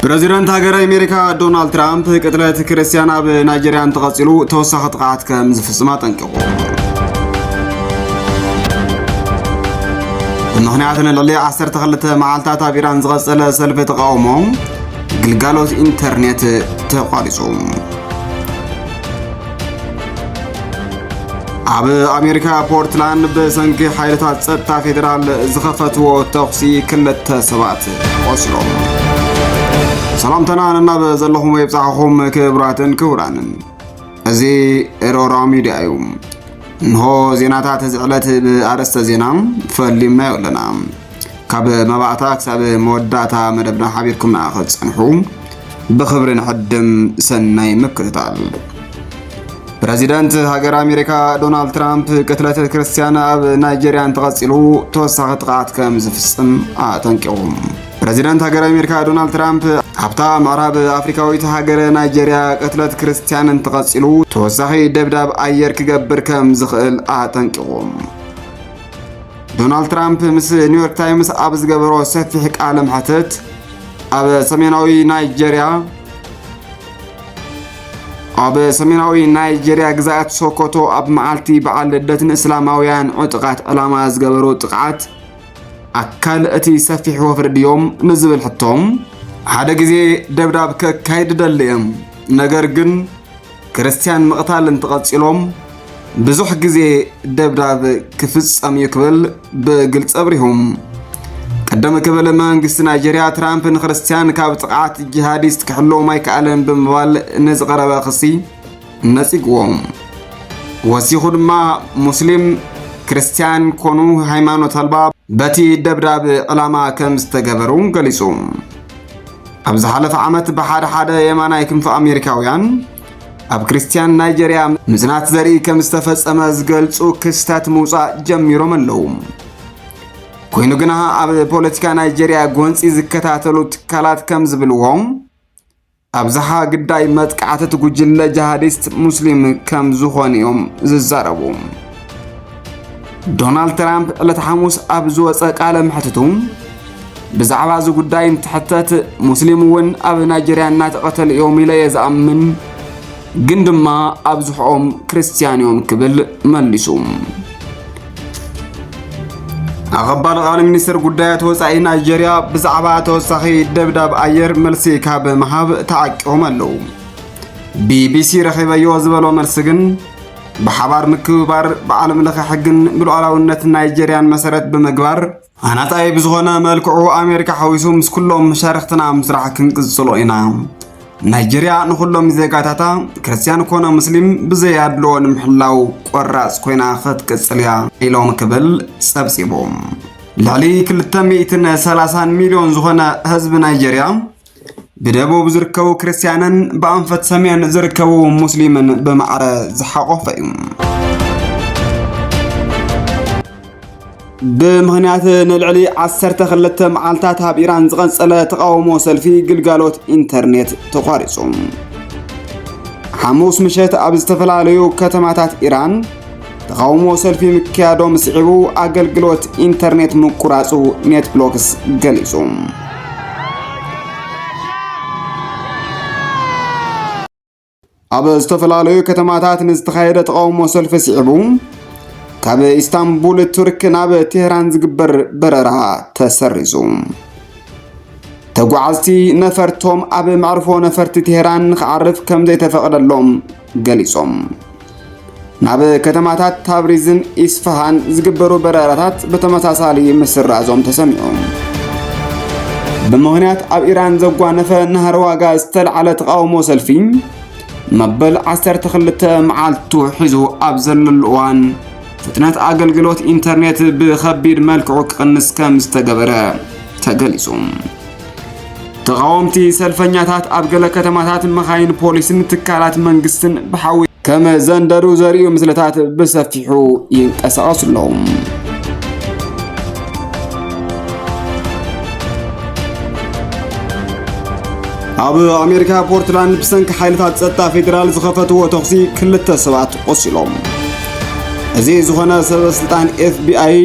ፕረዚደንት ሃገረ ኣሜሪካ ዶናልድ ትራምፕ ቅትለት ክርስትያን ኣብ ናይጀርያ እንተቐፂሉ ተወሳኺ ጥቕዓት ከም ዝፍፅም ኣጠንቂቑ። ብምኽንያት ንልዕሊ 12 መዓልታት ኣብ ኢራን ዝቐፀለ ሰልፊ ተቃውሞ ግልጋሎት ኢንተርኔት ተቋሪፁ። ኣብ ኣሜሪካ ፖርትላንድ ብሰንኪ ሓይልታት ጸጥታ ፌዴራል ዝኸፈትዎ ተኹሲ ክልተ ሰባት ቆሲሎም ሰላምታና ንናብ ዘለኹም የብጻሕኹም ክብራትን ክቡራንን እዚ ኤሮራ ሚድያ እዩ እንሆ ዜናታት እዚ ዕለት ብኣርእስተ ዜና ፈሊምናዮ ኣለና ካብ መባእታ ክሳብ መወዳእታ መደብና ሓቢርኩምና ክትጸንሑ ብኽብሪ ንሕድም ሰናይ ምክትታል ፕረዚደንት ሃገር ኣሜሪካ ዶናልድ ትራምፕ ቅትለት ክርስትያን ኣብ ናይጀርያ እንተቐፂሉ ተወሳኺ ጥቕዓት ከም ዝፍፅም ኣጠንቂቑ። ፕረዚደንት ሃገር ኣሜሪካ ዶናልድ ትራምፕ ኣብታ ምዕራብ ኣፍሪካዊት ሃገር ናይጀርያ ቅትለት ክርስትያን እንተቐፂሉ ተወሳኺ ደብዳብ ኣየር ክገብር ከም ዝኽእል ኣጠንቂቑ። ዶናልድ ትራምፕ ምስ ኒውዮርክ ታይምስ ኣብ ዝገበሮ ሰፊሕ ቃለ መሕትት ኣብ ሰሜናዊ ናይጀርያ ኣብ ሰሜናዊ ናይጀርያ ግዛኣት ሶኮቶ ኣብ መዓልቲ በዓል ልደት ንእስላማውያን ዕጡቓት ዕላማ ዝገበሩ ጥቕዓት ኣካል እቲ ሰፊሕ ወፍሪ ድዮም ንዝብል ሕቶም ሓደ ግዜ ደብዳብ ከካይድ ደልየም ነገር ግን ክርስትያን ምቕታል እንትቐጺሎም ብዙሕ ግዜ ደብዳብ ክፍጸም እዩ ክብል ብግልፂ ኣብሪሁ። ቅድም ክብል መንግስቲ ናይጀርያ ትራምፕ ንክርስትያን ካብ ጥቕዓት ጂሃዲስት ክሕለዎም ኣይከኣለን ብምባል ንዝቐረበ ክሲ ነጺግዎ። ወሲኹ ድማ ሙስሊም ክርስትያን ኮኑ ሃይማኖት ኣልባ በቲ ደብዳብ ዕላማ ከም ዝተገበሩ ገሊጹ። ኣብ ዝሓለፈ ዓመት ብሓደ ሓደ የማናይ ክንፊ ኣሜሪካውያን ኣብ ክርስትያን ናይጀርያ ምጽናት ዘርኢ ከም ዝተፈጸመ ዝገልጹ ክስተት ምውጻእ ጀሚሮም ኣለዉ። ኮይኑ ግና ኣብ ፖለቲካ ናይጀርያ ጎንፂ ዝከታተሉ ትካላት ከም ዝብልዎ ኣብዝሓ ግዳይ መጥቃዕቲ እቲ ጉጅለ ጂሃዲስት ሙስሊም ከም ዝኾኑ እዮም ዝዛረቡ። ዶናልድ ትራምፕ ዕለተ ሓሙስ ኣብ ዝወፀ ቃለ መሕትቱ ብዛዕባ እዚ ጉዳይ እንትሕተት ሙስሊም እውን ኣብ ናይጀርያ እናተቐተሉ እዮም ኢለ እየ ዝኣምን ግን ድማ ኣብዝሕኦም ክርስትያን እዮም ክብል መሊሱ። ኣቐባሊ ቃል ሚኒስትር ጉዳያት ወፃኢ ናይጀርያ ብዛዕባ ተወሳኺ ደብዳብ ኣየር መልሲ ካብ ምሃብ ተዓቂቦም ኣለዉ። ቢቢሲ ረኺበዮ ዝበሎ መልሲ ግን ብሓባር ምክብባር ብዓለም ለኸ ሕግን ብሉዓላውነት ናይጀርያን መሰረት ብምግባር ኣናጻይ ብዝኾነ መልክዑ ኣሜሪካ ሓዊሱ ምስ ኩሎም መሻርክትና ምስራሕ ክንቅጽሎ ኢና ናይጀርያ ንኹሎም ዜጋታታ ክርስትያን ኮነ ሙስሊም ብዘይ ኣድልዎ ንምሕላው ቆራጽ ኮይና ክትቅጽል እያ ኢሎም ክብል ጸብጺቡ ልዕሊ 230 ሚልዮን ዝኾነ ህዝቢ ናይጀርያ ብደቡብ ዝርከቡ ክርስትያንን ብኣንፈት ሰሜን ዝርከቡ ሙስሊምን ብማዕረ ዝሓቖፈ እዩ ብምኽንያት ንልዕሊ 12 መዓልታት ኣብ ኢራን ዝቐጸለ ተቓውሞ ሰልፊ ግልጋሎት ኢንተርኔት ተቋሪጹ ሓሙስ ምሸት ኣብ ዝተፈላለዩ ከተማታት ኢራን ተቓውሞ ሰልፊ ምክያዶም ስዒቡ ኣገልግሎት ኢንተርኔት ምቁራጹ ኔትብሎክስ ገሊጹ። ኣብ ዝተፈላለዩ ከተማታት ንዝተኻየደ ተቃውሞ ሰልፊ ስዒቡ ካብ ኢስታንቡል ቱርክ ናብ ቴህራን ዝግበር በረራ ተሰሪዙ ተጓዓዝቲ ነፈርቶም ኣብ መዕርፎ ነፈርቲ ቴህራን ንክዓርፍ ከም ዘይተፈቕደሎም ገሊጾም። ናብ ከተማታት ታብሪዝን ኢስፋሃን ዝግበሩ በረራታት ብተመሳሳሊ ምስራዞም ተሰሚዑ። ብምኽንያት ኣብ ኢራን ዘጓነፈ ናህሪ ዋጋ ዝተልዓለ ተቓውሞ ሰልፊ መበል 12 መዓልቱ ሒዙ ኣብ ዘለሉ እዋን ፍጥነት ኣገልግሎት ኢንተርኔት ብኸቢድ መልክዑ ክቕንስ ከም ዝተገበረ ተገሊጹ። ተቓወምቲ ሰልፈኛታት ኣብ ገለ ከተማታት መኻይን ፖሊስን ትካላት መንግስትን ብሓዊ ከም ዘንደዱ ዘርእዩ ምስልታት ብሰፊሑ ይንቀሳቐሱ ኣለዉ። ኣብ ኣሜሪካ ፖርትላንድ ብሰንኪ ሓይልታት ጸጥታ ፌዴራል ዝኸፈትዎ ተኹሲ ክልተ ሰባት ቆሲሎም። እዚ ዝኾነ ሰበስልጣን ኤፍቢኣይ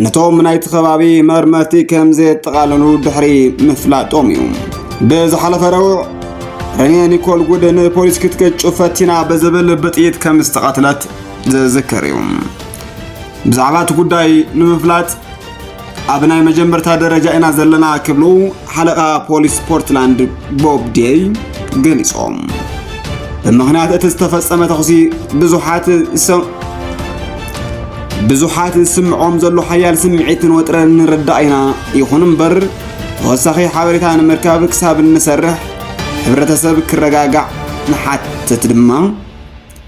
ነቶም ናይቲ ከባቢ መርመርቲ ከም ዘየጠቓለሉ ድሕሪ ምፍላጦም እዩ ብዝሓለፈ ረቡዕ ረኔ ኒኮል ጉድ ንፖሊስ ክትገጩ ፈቲና ብዝብል ብጥይት ከም ዝተቐትለት ዝዝከር እዩ ብዛዕባ እቲ ጉዳይ ንምፍላጥ ኣብ ናይ መጀመርታ ደረጃ ኢና ዘለና ክብሉ ሓለቓ ፖሊስ ፖርትላንድ ቦብ ዴይ ገሊጾም ብምኽንያት እቲ ዝተፈጸመ ተኹሲ ብዙሓት ብዙሓት ዝስምዖም ዘሎ ሓያል ስምዒትን ወጥረን ንርዳእ ኢና። ይኹን እምበር ተወሳኺ ሓበሬታ ንምርካብ ክሳብ እንሰርሕ ሕብረተሰብ ክረጋጋዕ ንሓትት ድማ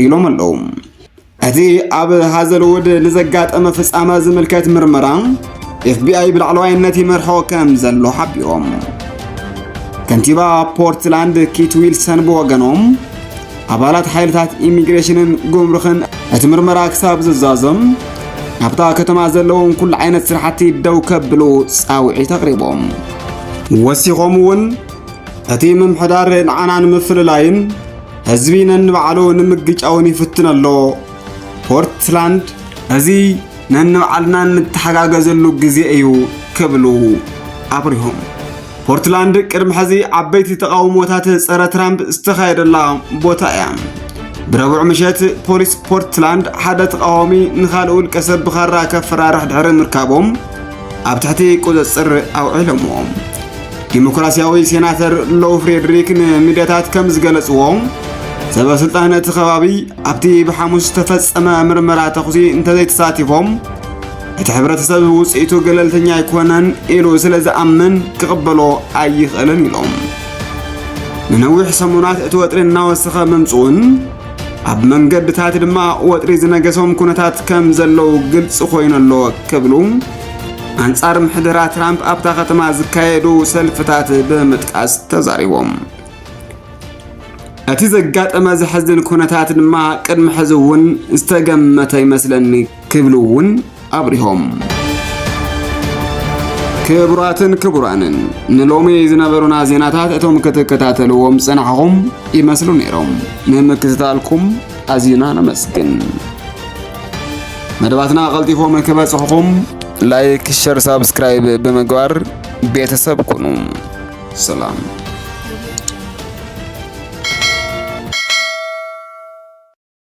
ኢሎም ኣለዉ። እቲ ኣብ ሃዘልውድ ንዘጋጠመ ፍጻመ ዝምልከት ምርመራ ኤፍቢኣይ ብላዕለዋይነት ይመርሖ ከም ዘሎ ሓቢሮም። ከንቲባ ፖርትላንድ ኪት ዊልሰን ብወገኖም ኣባላት ሓይልታት ኢሚግሬሽንን ጉምሩኽን እቲ ምርመራ ክሳብ ዝዛዞም ኣብታ ከተማ ዘለዎም ኩሉ ዓይነት ስራሕቲ ደው ከብሉ ጻውዒት ኣቕሪቦም ወሲኾም እውን እቲ ምምሕዳር ንዓና ንምፍልላይን ህዝቢ ነንባዕሉ ንምግጫውን ይፍትን ኣሎ ፖርትላንድ እዚ ነንባዕልና እንተሓጋገዘሉ ግዜ እዩ ክብሉ ኣብሪሆም ፖርትላንድ ቅድሚ ሕዚ ዓበይቲ ተቓውሞታት ጸረ ትራምፕ ዝተኻየደላ ቦታ እያ። ብረቡዕ ምሸት ፖሊስ ፖርትላንድ ሓደ ተቓዋሚ ንኻልእ ውልቀ ሰብ ብኻራ ከፈራርሕ ድሕሪ ምርካቦም ኣብ ትሕቲ ቁፅፅር ኣውዒሎሞ። ዲሞክራሲያዊ ሴናተር ሎው ፍሬድሪክ ንሚድያታት ከም ዝገለጽዎ ሰበስልጣን እቲ ከባቢ ኣብቲ ብሓሙስ ዝተፈጸመ ምርመራ ተኹሲ እንተዘይተሳቲፎም እቲ ሕብረተሰብ ውፅኢቱ ገለልተኛ ኣይኮነን ኢሉ ስለ ዝኣምን ክቕበሎ ኣይኽእልን ኢሎም። ንነዊሕ ሰሙናት እቲ ወጥሪ እናወሰኸ ምምፅኡን ኣብ መንገድታት ድማ ወጥሪ ዝነገሶም ኩነታት ከም ዘለዉ ግልፂ ኮይኑ ኣሎ ክብሉ ኣንጻር ምሕደራ ትራምፕ ኣብታ ከተማ ዝካየዱ ሰልፍታት ብምጥቃስ ተዛሪቦም። እቲ ዘጋጠመ ዘሕዝን ኩነታት ድማ ቅድሚ ሕዚ እውን ዝተገመተ ይመስለኒ ክብሉ እውን ኣብሪሆም። ክቡራትን ክቡራንን ንሎሚ ዝነበሩና ዜናታት እቶም ክትከታተልዎም ጸናሕኹም ይመስሉ ነይሮም። ንምክትታልኩም ኣዝና ነመስግን። መደባትና ቀልጢፎም ክበጽሕኹም ላይክ፣ ሸር፣ ሳብስክራይብ ብምግባር ቤተሰብ ኩኑ። ሰላም